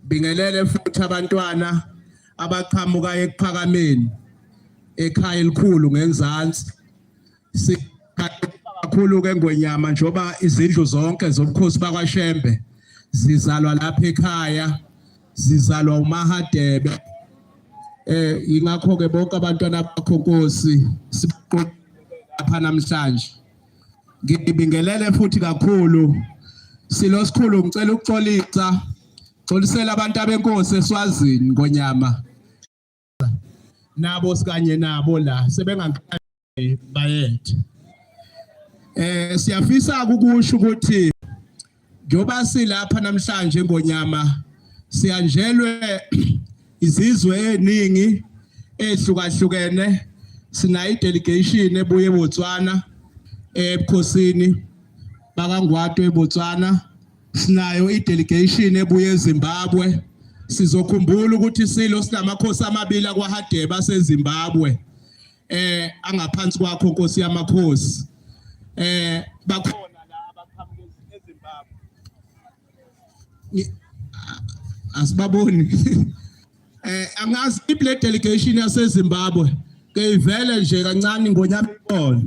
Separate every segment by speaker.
Speaker 1: Bingelele futhi abantwana abaqhamuka ekuphakameni ekhaya elikhulu ngenzansi. Sikakhulu ke ngwenyama njoba izindlu zonke zobukhosi bakwaShembe zizalwa lapha ekhaya zizalwa uMahadebe eh ingakho ke bonke abantwana bakho Nkosi siqoqa lapha namhlanje ngibingelele futhi kakhulu silo sikhulu ngicela ukuxolisa xolisela abantu abenkosi eswazini ngonyama nabo sikanye nabo la sebengangqabe bayethe eh siyafisa ukusho ukuthi Njoba silapha namhlanje ngonyama siyanjelwe izizwe eziningi ehlukahlukene sinayo delegation ebuye eBotswana ebukhosini bakangwato eBotswana sinayo idelegation ebuye eZimbabwe sizokhumbula ukuthi silo sinamakhosi amabili akwaHadebe aseZimbabwe eh angaphansi kwakho Nkosi yamakhosi eh bakhona la abaqhamuke eZimbabwe asibaboni eh angazi iplay delegation yaseZimbabwe ke ivele nje kancane ngonyama ikhona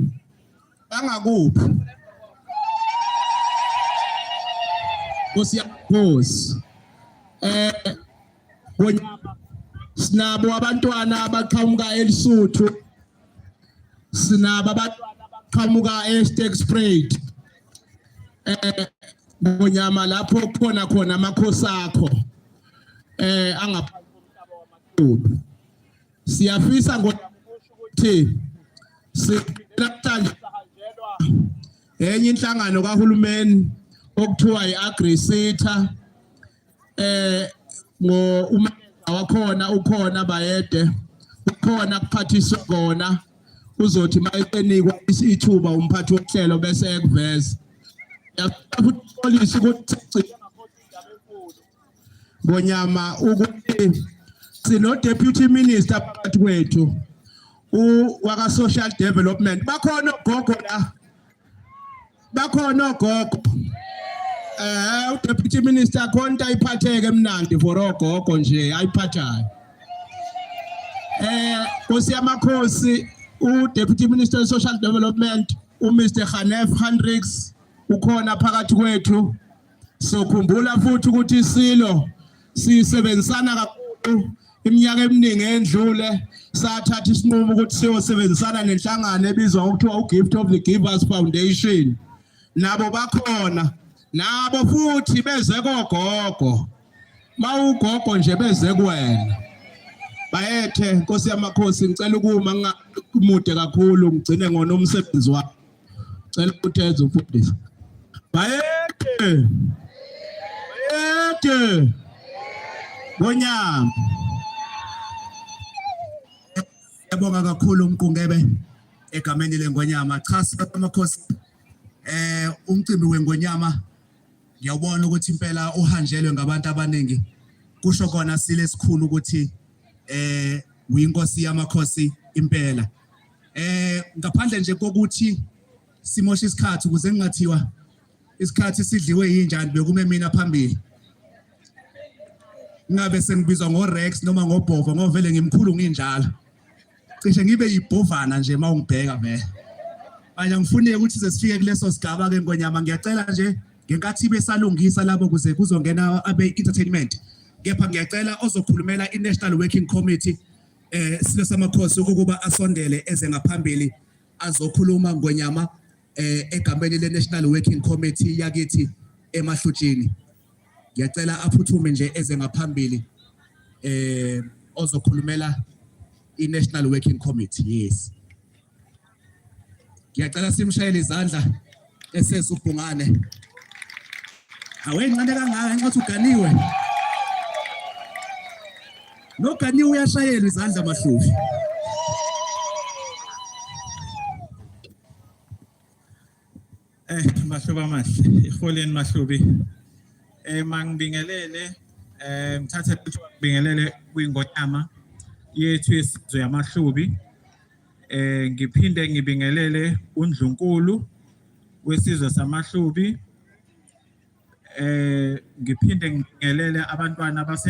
Speaker 1: bangakuphi Nkosi yakhosi eh Ngonyama sinabo abantwana abaqhamuka elisuthu sinabo abantwana abaqhamuka eStexprate eh ngonyama lapho khona khona amakhosi akho eh angaphansi komhlaba wamadudu siyafisa ngokuthi silamhlanje sahanjelwa enye inhlangano kahulumeni okuthiwa i-agrisita eh ngo uma wakhona ukhona bayede ukhona kuphathiswa kona uzothi mayenikwa isithuba umphathi wohlelo bese ekuveza yafuthi polisi ukuthi ngonyama ukuthi sino deputy minister phakathi kwethu u waka social development bakhona gogo la bakhona ogogo eh udeputy minister khonta iphatheke emnandi for ogogo nje ayiphathayo eh Nkosi yamakhosi udeputy minister of social development uMr Khanef Hendricks ukhona phakathi kwethu Sokhumbula futhi ukuthi isilo sisebenzisana kakhulu iminyaka eminingi endlule sathatha isinqumo ukuthi siyosebenzisana nenhlangano ebizwa ngokuthiwa uGift of the Givers Foundation nabo bakhona nabo futhi beze kogogo mawugogo nje beze kuwena bayethe nkosi yamakhosi ngicela ukuma mude kakhulu ngigcine ngona umsebenzi wakho cela ukutheza umfundisi bayede bayede ngonyama yabonga kakhulu umqungebe egameni lengonyama cha samakhosi eh umcimbi wengonyama ngiyawubona ukuthi impela uhanjelwe ngabantu abaningi kusho kona sile sikhulu ukuthi eh uyinkosi yamakhosi impela eh ngaphandle nje kokuthi simosha isikhathi ukuze ngingathiwa isikhathi sidliwe yinjani bekume mina phambili ngabe sengibizwa ngoRex noma ngoBhova ngoba vele ngimkhulu nginjalo cishe ngibe yibhovana nje uma ungibheka vele manje ngifuneke ukuthi size sifike kuleso sigaba ke ngonyama ngiyacela nje ngenkathi besalungisa labo kuze kuzongena abe entertainment kepha ngiyacela ozokhulumela i-National Working Committee eh silo samakhosi ukuba asondele eze ngaphambili azokhuluma ngonyama eh egameni le National Working Committee yakithi emahlutshini ngiyacela aphuthume nje eze ngaphambili eh ozokhulumela i-National Working Committee yes ngiyacela simshayele izandla eseza ubhungane awencane kangaka nxa uthi uganiwe noganiwe uyashayelwa izandla mahluvi
Speaker 2: Eh mahluba amahle iholeni mahlubi eh mangibingelele eh ngithathe ukuthi ngibingelele kwingonyama yethu yesizwe yamahlubi eh ngiphinde ngibingelele undlunkulu wesizwe samahlubi eh ngiphinde ngibingelele abantwana base